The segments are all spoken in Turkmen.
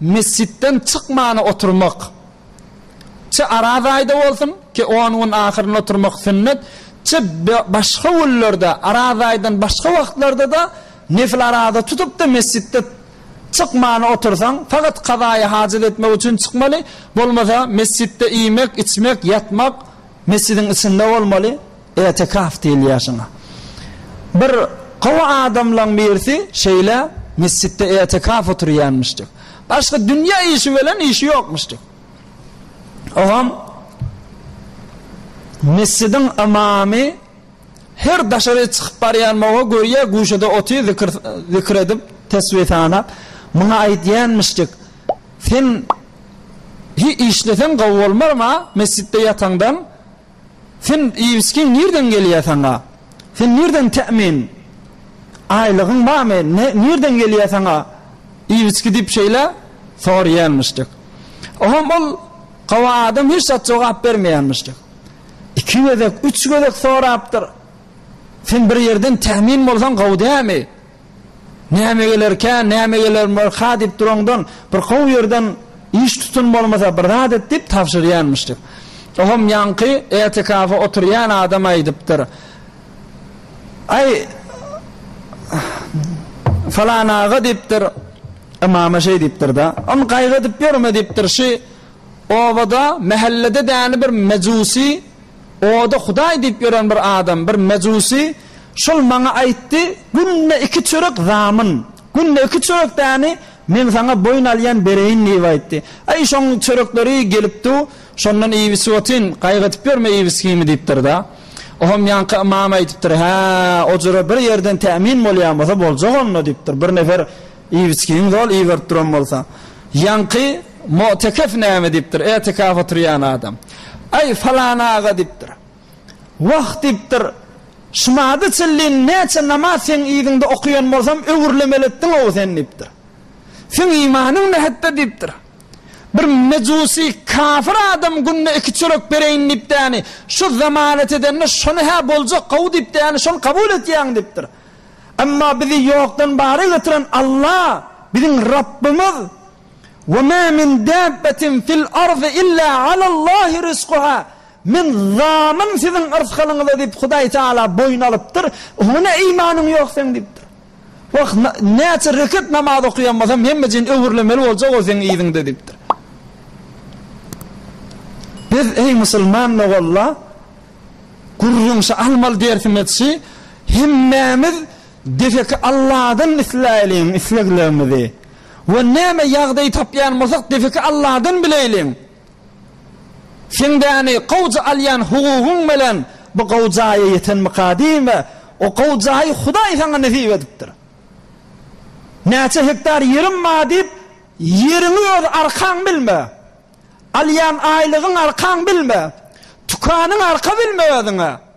Mesjitden çykmany oturmak, çe Araz aýda bolsun, çe on gün ahyrynda oturmak sünnet, çe başga günlerde, Araz aýdan başga wagtlarda-da nefil araza tutup-da mesjitde çykmany otursaň, fakat kazaýy hajat etmek üçin çykmaly, bolmasa mesjitde iýmek, içmek, ýatmak mesjidiň içinde bolmaly. Etekaf diýilýär şuňa. Bir gowy adamlaň birisi şeýle mesjitde etekaf oturýanmyşdy. Başga dünýä işi bilen işi ýokmuşdy. Ogam mesjidiň ymamy her daşary çykyp barýan mawa görýär, guşada otyr, zikir zikir edip, tesbi sanap, muňa aýdýanmyşdy. Sen hi işleseň gowy bolmarma, mesjitde ýataňdan Sen iýibiçgiň nirden gelýär saňa? Sen nirden temin? Aýlygyň barmy? Nirden gelýär saňa iýibiçgi diýip şeýle soraýarmyşdyk. Oňam ol gawa adam hiç zat jogap bermeýärmişdik. Iki gezek, üç gezek sorapdyr. Sen bir ýerden temin bolsaň gawy dälmi? Näme gelerkä, näme gelerkä diýip duraňdan, bir gowy ýerden iş tutun bolmasa bir zat et diýip tabşyrýarmyş diýip. Oňam ýaňky etikafy oturýan adam aýdypdyr. Aý, falan aga diýipdir, ymama şeý diýipdir-de, ony gaýgydyp ýörme diýipdir, şu obada, mähellede däni bir mejusy, oda hudaý diýip ýören bir adam, bir mejusy, Şol maňa aýtdy, Günde iki çörek zamun, günde iki çörek däni men saňa boýun alýan bereýin diýip aýtdy. Aý, şoň çörekleri gelip du, şondan iýip içip otyn, gaýgydyp ýörme iýip-içgimi diýipdir-de. Oňam ýaňky ymam aýdypdyr, Hä, ojura bir ýerden tämin bolýan bolsa boljak onda diýipdir, bir nefer iýip-içgiňi zol iberip duran bolsa. Ýaňky mutekef näme diýipdir, etekaf oturýan adam. Aý, falan aga diýipdir. Wah! diýipdir. Şmady çillin, näçe namaz seň yzyňda okaýan bolsam, öwürlemeli etdiň-ow sen, diýipdir. Seň imanyň nätde? diýipdir. Bir mejusi, kafir adam günde iki çörek bereýin diýipdäni, şu zemanet edende şony-hä boljak gowy diýipdäni, şony kabul etýäň, diýipdir. Emma bizi ýokdan bara getiren Alla, biziň Rabbymyz, Wema min dabbatin fil ardy illa alallahi rizquha, Men zalim siziň yrsgalyňyza diýip Hudaý Tagala boýun alypdyr, oňa ne imanyň ýok seň diýipdir. Wah, näçe rekat namaz okaýan bolsam hemmejigini öwürlemeli boljak ol seň yzyňda diýipdir. Biz eý musulman ogalla gürrüňşi almaly dersimiz şi, hemmämiz deseki Alladan isläýliň isleglerimizi we näme ýagdaý tapýan bolsak deseki Alladan bileýliň. Siňdäni gowja alýan hugugyň bilen bu gowy jaýa ýetenmika diýin we o gowy jaýy Hudaý saňa nesip edipdir. Näçe hektar ýerim bar diýip, ýeriňi öz arkaň bilme. Alýan aýlygyň arkaň bilme. Tükanyň arka bilme özüňe.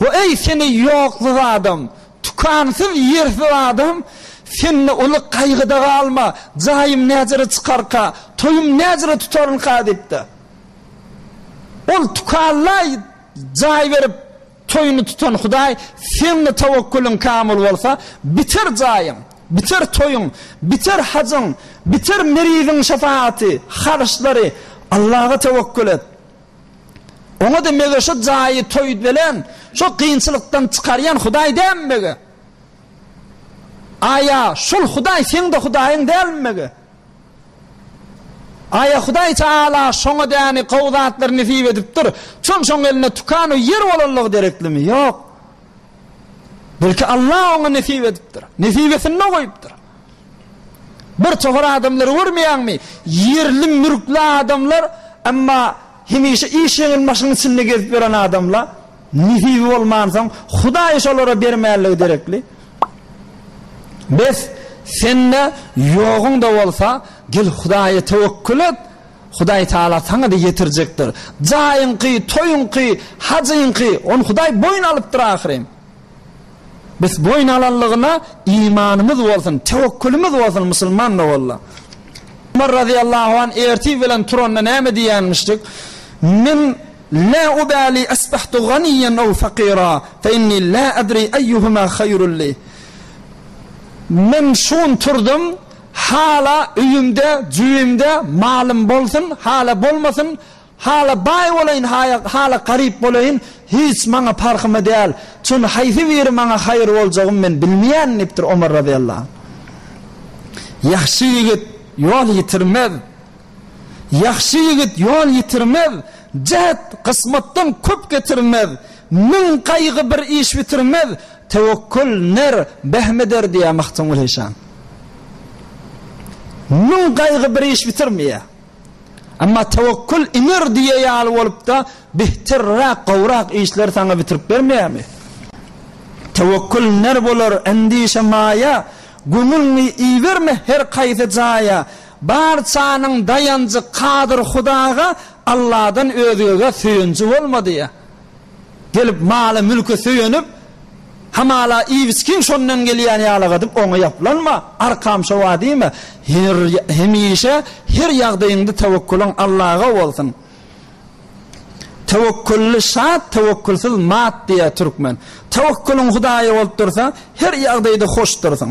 We eý, seni ýoksuz adam, tükansyz, ýersiz adam, sende uly gaýgyda galma, jaýym näjere çykarka, toýum näjere tutarynka diýipdir. Ol tükalaý jaý berip, toýuny tutan Hudaý, sende tawakkulyň kamyl bolsa, biter jaýyň, biter toýuň, biter hajyň, biter meriziň şepaýaty, haryçlary, Allaha tewekkül et. Oňa-da mege şu jaýy toýdbelen, şu kynçylykdan çykarýan Hudaý dälmi mege? Aýa, şol Hudaý seň-de Hudaýyň dälmi mege? Aýa Hudaý Taala şoňa däni gowy zatlary nesip edipdir, çün şoň eline tukan we ýer bolanlygy dereklimi? Ýok. Belki Alla oňa nesip edipdir. Nesibesinde goýupdyr. Bir tohar adamlary görmeýäňmi? Ýerli mülkli adamlar, emma hemişe iş ýeňil maşynyň içinde gezip ýören adamla. Nesibi bolmansoň, Hudaýy şolara bermänligi derekli. Bes, sende ýoguň-da bolsa, gel Hudaýa töwekgül et, Hudaý Tagala saňa-da ýetirjekdir. Jaýyňky, toýuňky, hajyňky, ony Hudaý boýun alypdyr ahyryn. Biz boýun alanlygyna imanymyz bolsun, tewekgülimiz bolsun musulman doganlar. Ömer razyýallahu anh ertir bilen turanda näme diýýänmişdik? Men Lä ubäli asbahtu ganiýen ew fakira fe inni lä adri eýýuhuma haýrul li. Men şu gün turdum, hala öýümde, jübimde malym bolsun, hala bolmasyn, Hala baý bolaýyn, haýa, hala garyp bolaýyn, hiç maňa parhymy däl, çün haýsy biri maňa haýyr boljagymy men bilmeýän, diýipdir Omar razyýallahu anh. Ýagşy ýigit ýol ýitirmez. Ýagşy ýigit ýol ýitirmez, jäht, gysmatdan köp getirmez, müň gaýgy bir iş bitirmez, tewekgül, ner, behm eder, diýýär Mahdumul-Hyşam. Müň gaýgy bir iş bitirmeýär. Emma tewekgül iňir diýe ýaly bolupda bihterräk gowrak işler saňa bitirip bermeýärmi? Tewekgül iner bolar endişe maýa, Göňüliňi iberme her kaýsy jaýa. Barçanyň daýanjy kadyr Hudaga, Alladan özgege söýenji bolma diýe. Gelip mala-mülke söýenip, hamala Iwskiň şondan gelýän ýalagadyp oňa ýaplanma, arkamça wa diýme, her, hemişe her ýagdaýyňda tewekkulyň Allaga bolsun. Tewekkully şat, tewekkulsyz mat diýýär türkmen. Tewekkulyň Hudaýa bolup dursa, her ýagdaýda hoş dursuň.